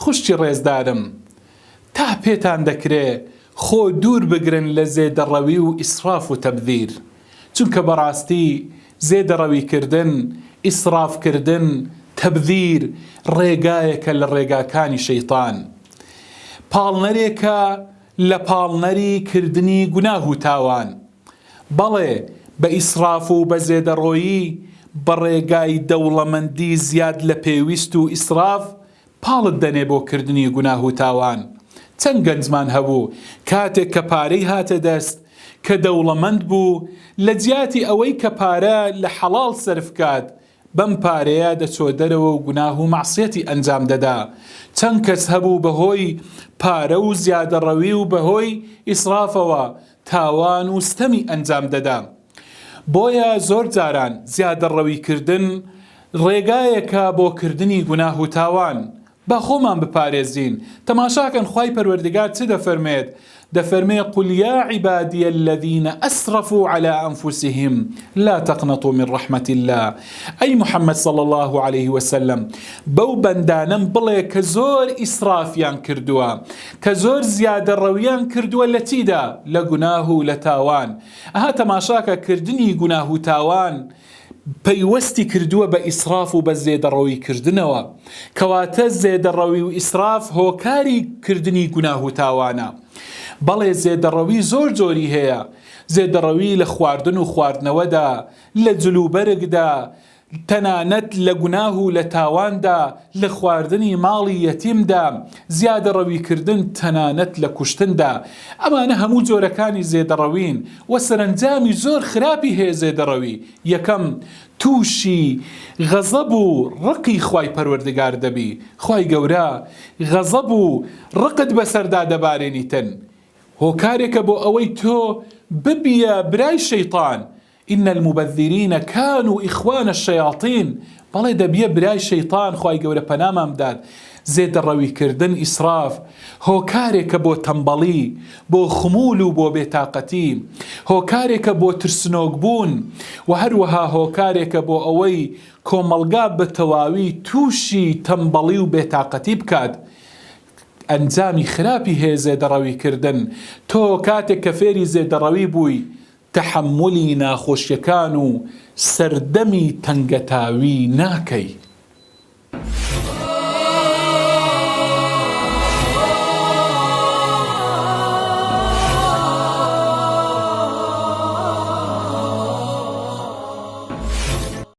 خوشکی ڕێزدارم تا پێتان دەکرێ خۆ دوور بگرن لە زێدەڕەوی و ئیسڕاف و تەبذیر چونکە بەڕاستی زێدەڕەوی کردن ئیسڕاف کردن تەبذیر ڕێگایەکە لە ڕێگاکانی شەیتان پاڵنەرێکە لە پاڵنەری کردنی گوناه و تاوان، بەڵێ بە ئیسڕاف و بە زێدەڕۆیی بە ڕێگای دەوڵەمەندی زیاد لە پێویست و ئیسڕاف پاڵت دەنێ بۆ کردنی گوناه و تاوان، چەند گەنجمان هەبوو کاتێک کە پارەی هاتە دەست کە دەوڵەمەند بوو لە جیاتی ئەوەی کە پارە لە حەڵاڵ سەرف کات بەم پارەیە دەچۆ دەرەوە و گوناه و مەعسیەتی ئەنجام دەدا، چەند کەس هەبوو بەهۆی پارە و زیادەڕەوی و بەهۆی ئیسرافەوە تاوان و ستەمی ئەنجام دەدا، بۆیە زۆر جاران زیادەڕەوی کردن ڕێگایەکە بۆ کردنی گوناه و تاوان، با خۆمان بپارێزین، تەماشاکەن خوای پەروەردگار چ دەفەرمێت، دەفەرمێ، قل یا عبادی الذین اسرفوا علی انفسهم لا تقنطوا من رحمە اللە، ئەی محمد صلی اللە علیە وسلم بەو بەندانەم بڵێ کە زۆر ئیسرافیان کردووە، کە زۆر زیادەڕەویان کردووە لە چیدا؟ لە گوناه و لە تاوان، ئەها تەماشاکە کردنی گوناه و تاوان پەیوەستی کردووە بە ئیسراف و بە زێدەڕەوی کردنەوە، کەواتە زێدەڕەوی و ئیسراف هۆکاری کردنی گوناه و تاوانە، بەڵێ زێدەڕەوی زۆر جۆری هەیە، زێدەڕەوی لە خواردن و خواردنەوەدا، لە جلوبەرگدا، تەنانەت لە گوناه و لە تاواندا، لە خواردنی ماڵی یەتیمدا، زیادەڕەویکردن تەنانەت لە کوشتندا، ئەمانە هەموو جۆرەکانی زێدەڕەوین و سەرەنجامی زۆر خراپی هەیە زێدەڕەوی یەکەم تووشی غەزەب و ڕقی خوای پەروەردگار دەبی خوای گەورە غەزەب و ڕقت بەسەردا دەبارێنیتن هۆکارێکە بۆ ئەوەی تۆ ببیە برای شەیتان ان المبذرین کانوا اخوان الشیاطین بەڵێ دەبیە برای شەیتان خوای گەورە پەنامان بدات زێدەڕەوی کردن ئیسراف هۆکارێکە بۆ تەمبەڵی بۆ خمول و بۆ بێتاقەتی هۆکارێکە بۆ ترسنۆک بوون و هەروەها هۆکارێکە بۆ ئەوەی کۆمەڵگا بە تەواوی تووشی تەمبەڵی و بێتاقەتی بکات ئەنجامی خراپی هەیە زێدەڕەوی کردن تۆ کاتێک کە فێری زێدەڕەوی بووی تەحەمولی ناخۆشیەکان و سەردەمی تەنگەتاوی ناکەی.